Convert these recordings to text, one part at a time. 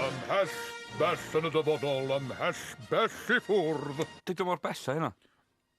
Ymhell bell yn y dyfodol, ymhell bell i ffwrdd. Dydw mor bell â hynna.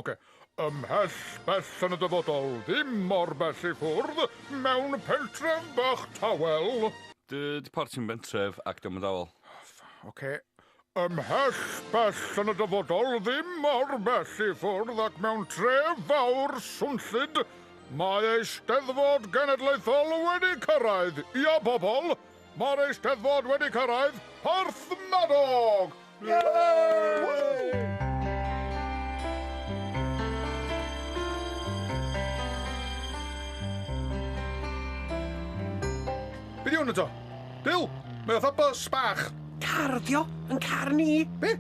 Oce. Ymhell bell yn y dyfodol, ddim mor bell i ffwrdd, mewn pentref bach tawel. Dyd porth sy'n bentref ac dio'm yn dawel. Oce. Ymhell bell yn y dyfodol, ddim mor bell i ffwrdd ac mewn tref fawr swnllyd, mae Eisteddfod Genedlaethol wedi cyrraedd! Ia, bobl, mae'r Eisteddfod wedi cyrraedd Porthmadog! Be 'di hwn eto? Bill, mae fatha bus bach. Car ydi o, yn car ni. Be?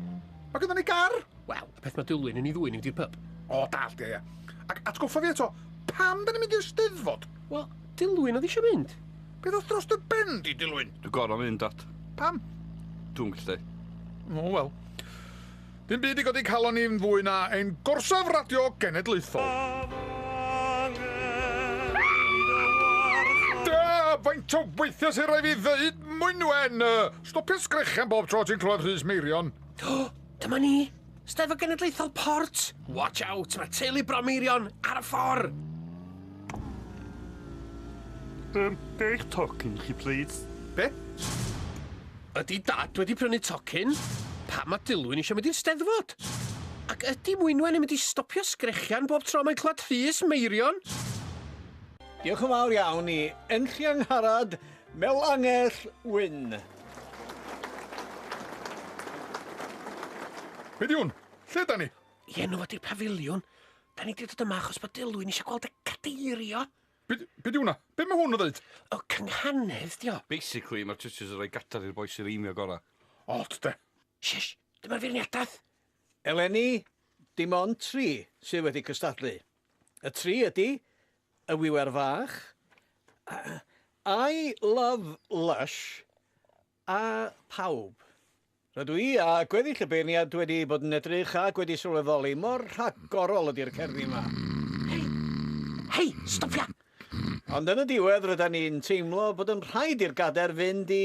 Mae gyda ni gar? Wel, y peth mae Dulwyn yn ei ddwy yn mynd i'r pyb. O, dall, ie, ie. Ac atgoffa fi eto, pam da ni'n mynd i'r steddfod? Wel, Dulwyn oedd eisiau mynd. Be ddoth dros dy ben di, Dulwyn? Dwi'n gorau mynd, Dad. Pam? Dwi'n gallu. O, wel. Dim byd i godi calon ni yn fwy na ein gorsaf radio genedlaethol. Faint o weithiau sy'n rhaid fi ddeud, Mwynwen! Stopio sgrechian bob tro ti'n clywed Rhys Meirion. O, dyma ni. Steddfod Genedlaethol Port. Watch out, mae teulu Bro Meirion ar y ffordd. Um, be eich tocyn chi, please? Be? Ydy Dad wedi prynu tocyn? Pam mae Dilwyn eisiau mynd i'r Steddfod? Ac ydy Mwynwen yn mynd i stopio sgrechian bob tro mae'n clywed Rhys Meirion? Diolch yn fawr iawn i Enlli Angharad Melangell Wyn. Be di hwn? Lle da ni? I enw ydy'r pafiliwn. Da ni di dod yma achos bod Dilwyn eisiau gweld y cadeirio. Be, be di hwnna? Be mae hwn yn ddeud? O, cynghanedd di o. Basically, mae'r teachers yn rhoi gadar i'r bois sy'n reimio gora. Ot, de. Shish, dyma'r feirniadaeth. Eleni, dim ond tri sydd wedi cystadlu. Y tri ydy, y wiwer fach, I love Lush, A phawb. Rydw i a gweddill y beirniad wedi bod yn edrych ac wedi sylweddoli mor rhagorol ydy'r cerddi yma. Hei! Hei! Stopia! Ond yn y diwedd rydan ni'n teimlo bod yn rhaid i'r gader fynd i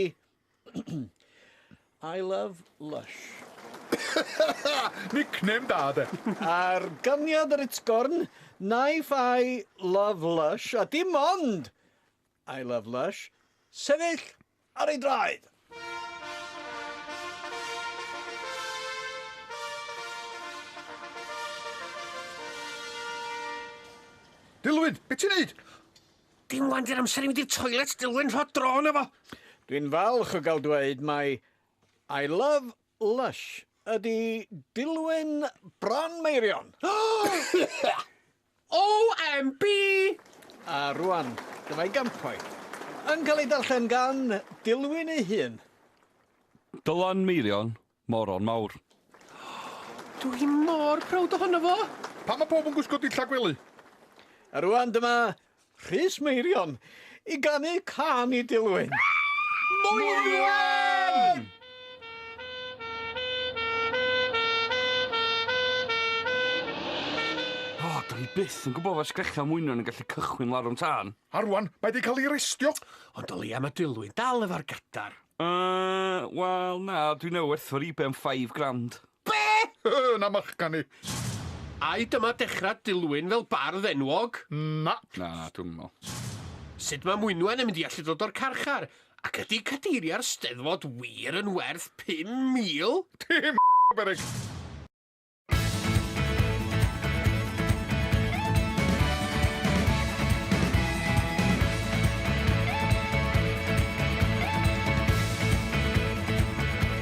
I love Lush. Nickname da de! Ar ganlyniad yr utgorn, Knife I love Lush a dim ond! I love Lush. Sefyll ar ei draed! Dilwyn, be ti'n neud? Dim wan di'r amser i mynd i'r toilet, Dilwyn, rho dro na fo! Dwi'n falch o gael dweud mai I love Lush ydy Dilwyn Bron Meirion! OMB! A rwan, dyma ei gampau. Yn cael ei darllen gan Dilwyn ei hun. Dylan Meirion, moron mawr. Dw i mor prowd ohono fo! Pam mae pawb yn gwisgo dillad gwely? A rwan dyma Rhys Meirion i ganu cân i Dilwyn. Mwywen! O, oh, da ni byth yn gwybod fod sgrechian mwynion yn gallu cychwyn larwm tân. A rwan, mae di cael ei restio. Ond o leia mae Dilwyn dal efo'r gadar. Uh, wel na, dwi'n ei werthfawr i ben 5 grand. Be? Yy, na ma'ch gan i. Ai dyma dechrau Dilwyn fel bardd enwog? Na. Na, dwi'm yn meddwl. Sut mae Mwynwen yn mynd i allu dod o'r carchar? Ac ydy cadeiriau'r Steddfod wir yn werth 5,000? Dim beryg!